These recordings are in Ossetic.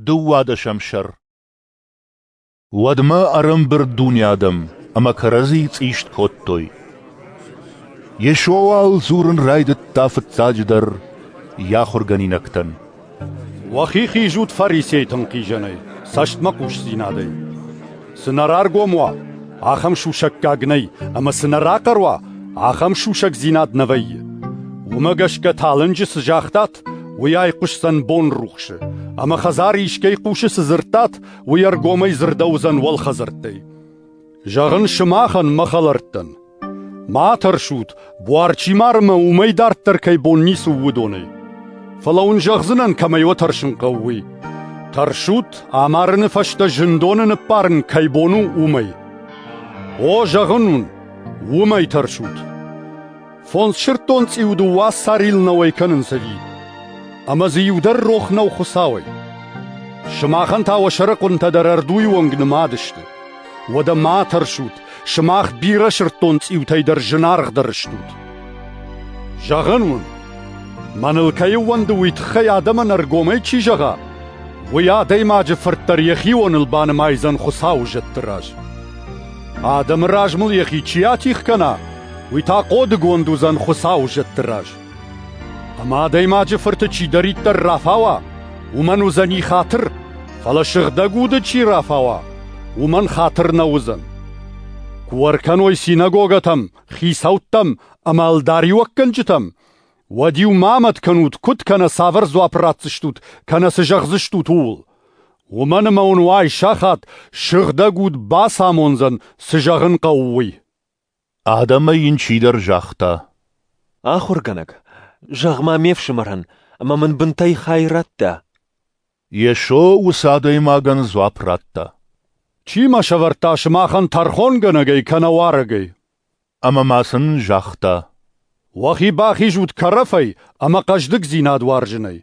Дыууадӕсӕм сӕр Уӕдмӕ ӕрӕмбырд дуне адӕм ӕмӕ кӕрӕдзийы цъист кодтой. Йесо уал дзурын райдыдта фыццаджыдӕр йӕ ахуыргӕнинӕгтӕн. Уӕхи хизут фарисейтӕн хизӕнӕй, цӕстмӕхъусдзинадӕй. Цы нӕ раргом уа, ахӕм сусӕггаг нӕй, ӕмӕ цы нӕ рахъӕр уа, ахӕм сусӕгдзинад нӕ вӕййы. Уымӕ гӕсгӕ талынджы цы загътат, уый айхъуысдзӕн бонрухсы, ӕмӕ хӕдзары искӕй хъусы цы дзырдтат, уый ӕргомӕй дзырдӕуыдзӕн уӕлхӕдзӕрттӕй. Зӕгъын сымахӕн, мӕ хӕлӕрттӕн, Ма тӕрсут, буар чи мары мӕ уымӕй дарддӕр кӕй бон ницы у, уыдонӕй. Фӕлӕ уын зӕгъдзынӕн, кӕмӕй уӕ тӕрсын хъӕуы, уый. Тӕрсут, амарыны фӕстӕ зындоны ныббарын кӕй бон у, уымӕй. О, зӕгъын уын, уымӕй тӕрсут. Фондз сырддон цъиу дыууӕ сарил нӕуӕй кӕнынц ӕви? Ӕмӕ дзы иу дӕр рох нӕу Хуыцауӕй. Сымахӕн та уӕ сӕрыхъуынтӕ дӕр ӕрдуйы онг нымад сты. Уӕдӕ ма тӕрсут, Сымах бирӕ сырддон цъиутӕй дӕр зынаргъдӕр стут. Зӕгъӕн уын, мӕныл кӕй ӕууӕнды уый тыххӕй адӕмӕн ӕргомӕй чи зӕгъа, уый адӕймаджы фырт дӕр йӕхионыл банымайдзӕн Хуыцауы зӕдты раз. Адӕмы раз мыл йӕхи чи атих кӕна, уый та хъодыгонд уыдзӕн Хуыцауы зӕдты раз. Ӕмӕ адӕймаджы фырты чидӕриддӕр рафауа, уымӕн уыдзӕни хатыр, фӕлӕ сыгъдӕг уды чи рафауа, уымӕн хатыр нӕ уыдзӕн. Куы ӕркӕной синагогӕтӕм, хицӕуттӕм ӕмӕ ӕлдариуӕггӕнджытӕм, уӕд-иу ма амӕт кӕнут, куыд кӕнӕ цавӕр дзуапп ратдзыстут, кӕнӕ цы зӕгъдзыстут, ууыл. Уымӕн ӕмӕ уын уай сахат сыгъдӕг уд бацамондзӕн, цы зӕгъын хъӕуы, уый. Адӕмӕй йын чидӕр загъта: — Ахуыргӕнӕг, зӕгъ-ма ме фсымӕрӕн, ӕмӕ мын бынтӕй хай радта. Йесо уыцы адӕймагӕн дзуапп радта: — Чи мӕ сӕвӕрдта сымахӕн тӕрхонгӕнӕгӕй кӕнӕ уарӕгӕй? Ӕмӕ ма сын загъта: — Уӕхи бахизут кӕрӕфӕй ӕмӕ хъӕздыгдзинад уарзынӕй,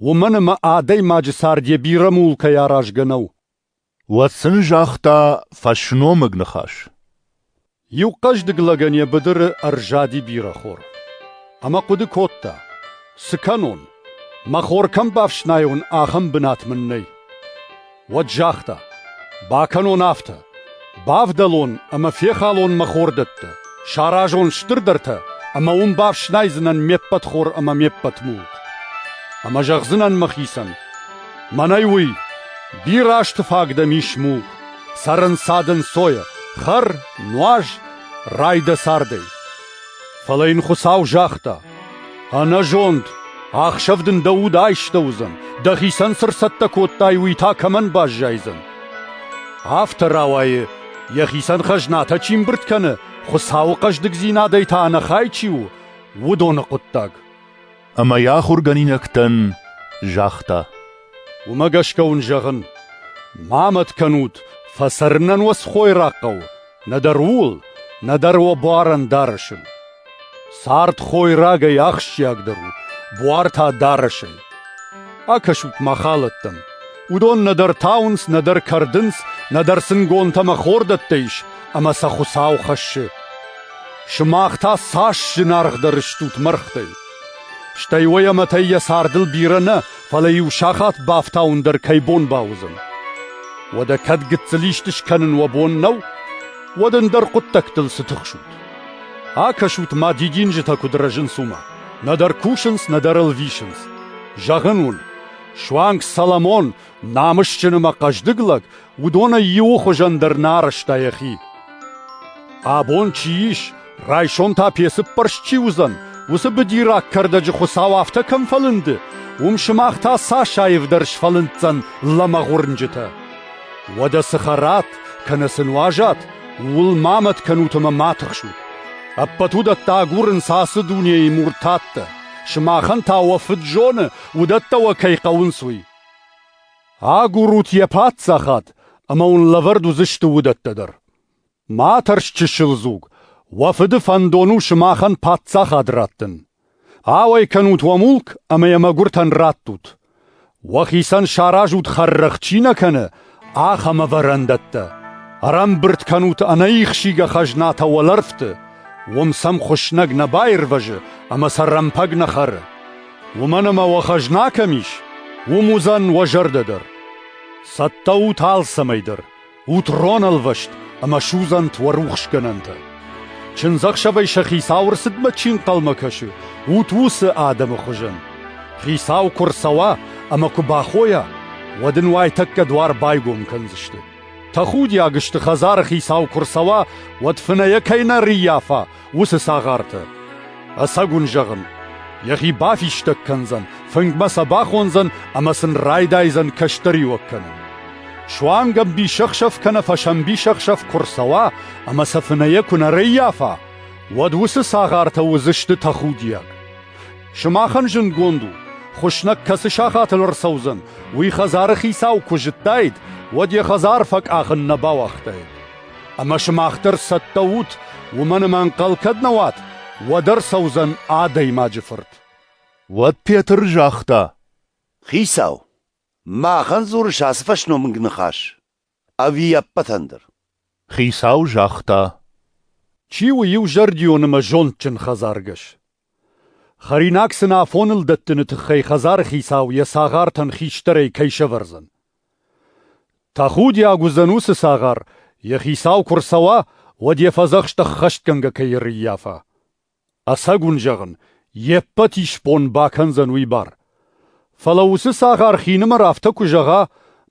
уымӕн ӕмӕ адӕймаджы цард йӕ бирӕ мулкӕй аразгӕ нӕу. Уӕд сын загъта фӕсномыг ныхас. Иу хъӕздыг лӕгӕн йӕ быдыры ӕрзади бирӕ хор. Ӕмӕ хъуыды кодта: цы кӕнон? Мӕ хор кӕм бафснайон, ахӕм бынат мын нӕй. Уӕд загъта: бакӕнон афтӕ: бавдӕлон ӕмӕ фехалон мӕ хордӕттӕ, саразон стырдӕртӕ ӕмӕ уым бафснайдзынӕн ме ппӕт хор ӕмӕ ме ппӕт мулк. Ӕмӕ зӕгъдзынӕн мӕхицӕн: Мӕнӕй уый: бирӕазты фаг дӕм ис мух, сӕрӕнцад ӕнцойӕ, хӕр, нуаз, рай дӕ цардӕй. Фӕлӕ йын Хуыцау загъта: «Ӕнӕзонд, ӕхсӕв дын дӕ уд айстӕ уыдзӕн, дӕхицӕн цы рцӕттӕ кодтай, уый та кӕмӕн баззайдзӕн?» Афтӕ рауайы, йӕхицӕн хӕзнатӕ чи мбырд кӕны, Хуыцауы хъӕздыгдзинадӕй та ӕнӕхай чи у, уыдоны хъуыддаг. Ӕмӕ йӕ ахуыргӕнинӕгтӕн загъта: «Уымӕ гӕсгӕ уын зӕгъын, ма мӕт кӕнут, фӕцӕрынӕн уӕ цы хойраг хъӕуы, нӕдӕр ууыл, нӕдӕр уӕ буарӕн дарӕсӕн. Цард хойрагӕй ахсджиагдӕр у, буар та дарӕсӕй. Акӕсут-ма халӕттӕм. Уыдон нӕдӕр тауынц, нӕдӕр кӕрдынц, нӕдӕр сын гонтӕ ӕмӕ хордӕттӕ ис, ӕмӕ сӕ Хуыцау хӕссы. Сымах та цас зынаргъдӕр стут мӕргътӕй! Стӕй уойамӕтӕй йӕ цардыл бирӕ нӕ, фӕлӕ-иу сахат бафтауын дӕр кӕй бон бауыдзӕн. Уӕдӕ кӕд гыццыл исты скӕнын уӕ бон нӕу, уӕд ӕндӕр хъуыддӕгтыл цы тыхсут? Акӕсут ма дидинджытӕ куыд рӕзынц уымӕ. Нӕдӕр кусынц, нӕдӕр ӕлвисынц. Зӕгъын уын, суанг Соломон Намысджыны мӕ хъӕздыг лӕг уыдонӕй иуы хуызӕн дӕр нӕ арӕзта йӕхи. Абон чи ис, райсом та пецыппӕрст чи уыдзӕн, уыцы быдираг кӕрдӕджы хуыцау афтӕ кӕм фӕлынды, уым сымах та цас аивдӕр сфӕлынддзӕн лӕмӕгъ уырнджытӕ. Уӕдӕ цы хӕрат, кӕнӕ цы нуазат, ууыл ма мӕт кӕнут ӕмӕ ма тыхсут. Ӕппӕт уыдӕттӕ агурынц ацы дунейы муртаттӕ. Сымахӕн та уӕ фыд зоны, уыдӕттӕ уӕ кӕй хъӕуынц, уый. Агурут йӕ паддзахад, ӕмӕ уын лӕвӕрд уыдзысты уыдӕттӕ дӕр. Ма тӕрс чысыл дзуг, уӕ фыды фӕндон у сымахӕн паддзахад раттын. Ауӕй кӕнут уӕ мулк ӕмӕ йӕ мӕгуыртӕн раттут. Уӕхицӕн саразут хӕррӕгъ чи нӕ кӕны, Ахӕм ӕвӕрӕндӕттӕ ӕрӕмбырд кӕнут ӕнӕихсийгӕ хӕзнатӕ уӕлӕрвты, уым сӕм хуыснӕг нӕ баирвӕзы ӕмӕ сӕ рӕмпӕг нӕ хӕры. Уымӕн ӕмӕ уӕ хӕзна кӕм ис, уым уыдзӕн уӕ зӕрдӕ дӕр. Цӕттӕ ут алцӕмӕй дӕр, ут ронӕлвӕст ӕмӕ суыдзӕнт уӕ рухсгӕнӕнтӕ. Чындзӕхсӕвӕй сӕ хицау рцыдмӕ чи нхъӕлмӕ кӕсы, ут уыцы адӕмы хуызӕн. Хицау куы рцӕуа ӕмӕ куы бахойа, уӕд ын уайтӕккӕ дуар байгом кӕндзысты. Тӕхудиаг сты хӕдзары хицау куы рцӕуа, уӕд фынӕйӕ кӕй нӕ рыййафа, уыцы цагъартӕ. Ӕцӕг уын зӕгъын, йӕхи бафистӕг кӕндзӕн, фынгмӕ сӕ бахондзӕн ӕмӕ сын райдайдзӕн кӕстӕриуӕг кӕнын. Суанг ӕмбисӕхсӕв кӕнӕ фӕсӕмбисӕхсӕв куы рцӕуа ӕмӕ сӕ фынӕйӕ куы нӕ рӕййафа, уӕд уыцы цагъартӕ уыдзысты тӕхудиаг. Сымахӕн зындгонд у, хуыснӕг кӕцы сахатыл ӕрцӕудзӕн, уый хӕдзары хицау куы зыдтаид, уӕд йӕ хӕдзар фӕкъахын нӕ бауагътаид. Ӕмӕ сымах дӕр цӕттӕ ут, уымӕн ӕмӕ ӕнхъӕл кӕд нӕ уат, уӕд ӕрцӕудзӕн адӕймаджы фырт. Уӕд Петр загъта: Хицау, Махӕн дзурыс ацы фӕсномыг ныхас ӕви ӕппӕтӕн дӕр? — хицау загъта. — Чи у иузӕрдион ӕмӕ зондджын хӕдзаргӕс? Хӕринаг сын афоныл дӕттыны тыххӕй хӕдзары хицау йӕ цагъартӕн хистӕрӕй кӕй сӕвӕрдзӕн. Тӕхудиаг уыдзӕн уыцы цагъар, йӕ хицау куы рцӕуа, уӕд йӕ фӕдзӕхст ӕххӕстгӕнгӕ кӕй ӕрӕййафа. Ӕцӕг уын зӕгъын, йе ппӕт исбон бакӕндзӕн уый бар. Фӕлӕ уыцы цагъар хинымӕр афтӕ куы зӕгъа,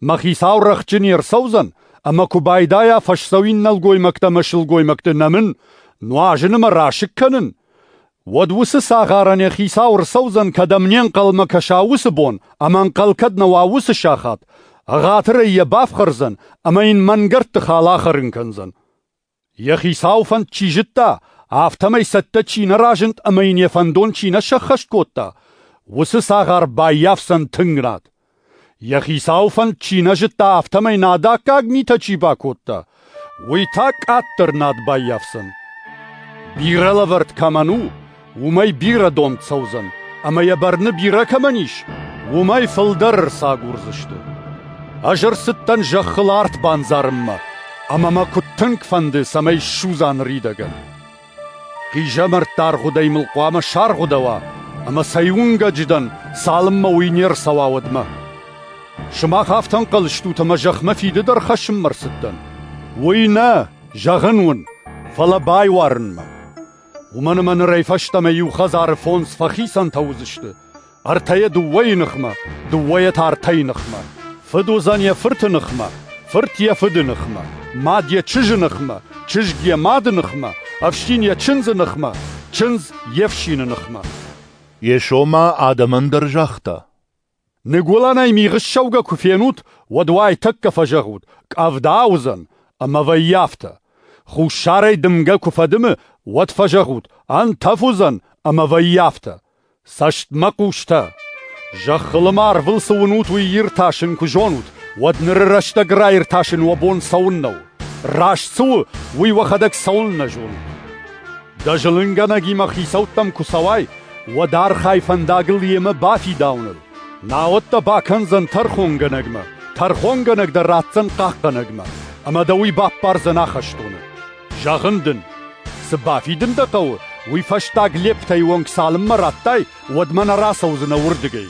мӕ хицау рӕхджын не рцӕудзӕн, ӕмӕ куы байдайа фӕсдзӕуин нӕлгоймӕгтӕ мӕ сылгоймӕгты нӕмын, нуазыны мӕ расыг кӕнын, уӕд уыцы цагъарӕн йӕ хицау ӕрцӕудзӕн, кӕдӕм не нхъӕлмӕ кӕса уыцы бон ӕмӕ ӕнхъӕл кӕд нӕ уа уыцы сахат, ӕгъатырӕй йӕ бафхӕрдзӕн ӕмӕ йын мӕнгӕрдты хал ахӕрын кӕндзӕн. Йӕ хицауы фӕнд чи зыдта, афтӕмӕй цӕттӕ чи нӕ разынд ӕмӕ йын йӕ фӕндон чи нӕ сӕххӕст кодта, уыцы цагъар баййафдзӕн тынг рад. Йӕ хицауы фӕнд чи нӕ зыдта, афтӕмӕй нӕдаккаг митӕ чи бакодта, уый та къаддӕр над баййафдзӕн. Бирӕ лӕвӕрд кӕмӕн у, уымӕй бирӕ дон цӕудзӕн, ӕмӕ йӕ бӕрны бирӕ кӕмӕн ис, уымӕй фылдӕр ӕрцагурдзысты. Ӕз ӕрцыдтӕн зӕххыл арт бандзарынмӕ, ӕмӕ мӕ куыд тынг фӕнды, цӕмӕй ссудза ныридӕгӕн. Хъизӕмӕртты аргъуыдӕй мыл хъуамӕ саргъуыдӕуа, ӕмӕ цӕй уынгӕджы дӕн, цалынмӕ уый не рцӕуа уӕдмӕ. Сымах афтӕ ӕнхъӕл стут, ӕмӕ зӕхмӕ фиды дӕр хӕссынмӕ рцыдтӕн? Уый нӕ, зӕгъын уын, фӕлӕ байуарынмӕ. Уымӕн ӕмӕ нырӕй фӕстӕмӕ иу хӕдзары фондз фӕхицӕнтӕ уыдзысты, ӕртӕйӕ дыууӕйы ныхмӕ, дыууӕйӕ та ӕртӕйы ныхмӕ. Фыд уыдзӕн йӕ фырты ныхмӕ, фырт йӕ фыды ныхмӕ, мад йӕ чызджы ныхмӕ, чызг йӕ мады ныхмӕ, ӕфсин йӕ чындзы ныхмӕ, чындз йе фсины ныхмӕ. Йесо ма адӕмӕн дӕр загъта, Ныгуылӕнӕй мигъы ссӕугӕ куы фенут, уӕд уайтӕккӕ фӕзӕгъут: «Къӕвда уыдзӕн» ӕмӕ вӕййӕфтӕ. Хуссарӕй дымгӕ куы фӕдымы, уӕд фӕзӕгъут: «Ӕнтӕф уыдзӕн» ӕмӕ вӕййӕфтӕ. Цӕстмӕ хъустӕ! Зӕххылымӕ арвыл цы уынут, уый иртасын куы зонут, уӕд ныры рӕстӕг раиртасын уӕ бон цӕуыннӕ у? Раст цы у, уый уӕхӕдӕг цӕуылнӕ зонут? Дӕ зылынгӕнӕгимӕ хицӕуттӕм куы цӕуай, уӕд архай фӕндагыл йемӕ бафидауыныл. Науӕд дӕ бакӕндзӕн тӕрхонгӕнӕгмӕ, тӕрхонгӕнӕг дӕ ратдзӕн хъахъхъӕнӕгмӕ, ӕмӕ дӕ уый баппардзӕн ахӕстоны. Зӕгъын дын, цы бафидын дӕ хъӕуы, уый фӕстаг лептӕй онг цалынмӕ раттай, уӕдмӕ нӕ рацӕудзынӕ уырдыгӕй.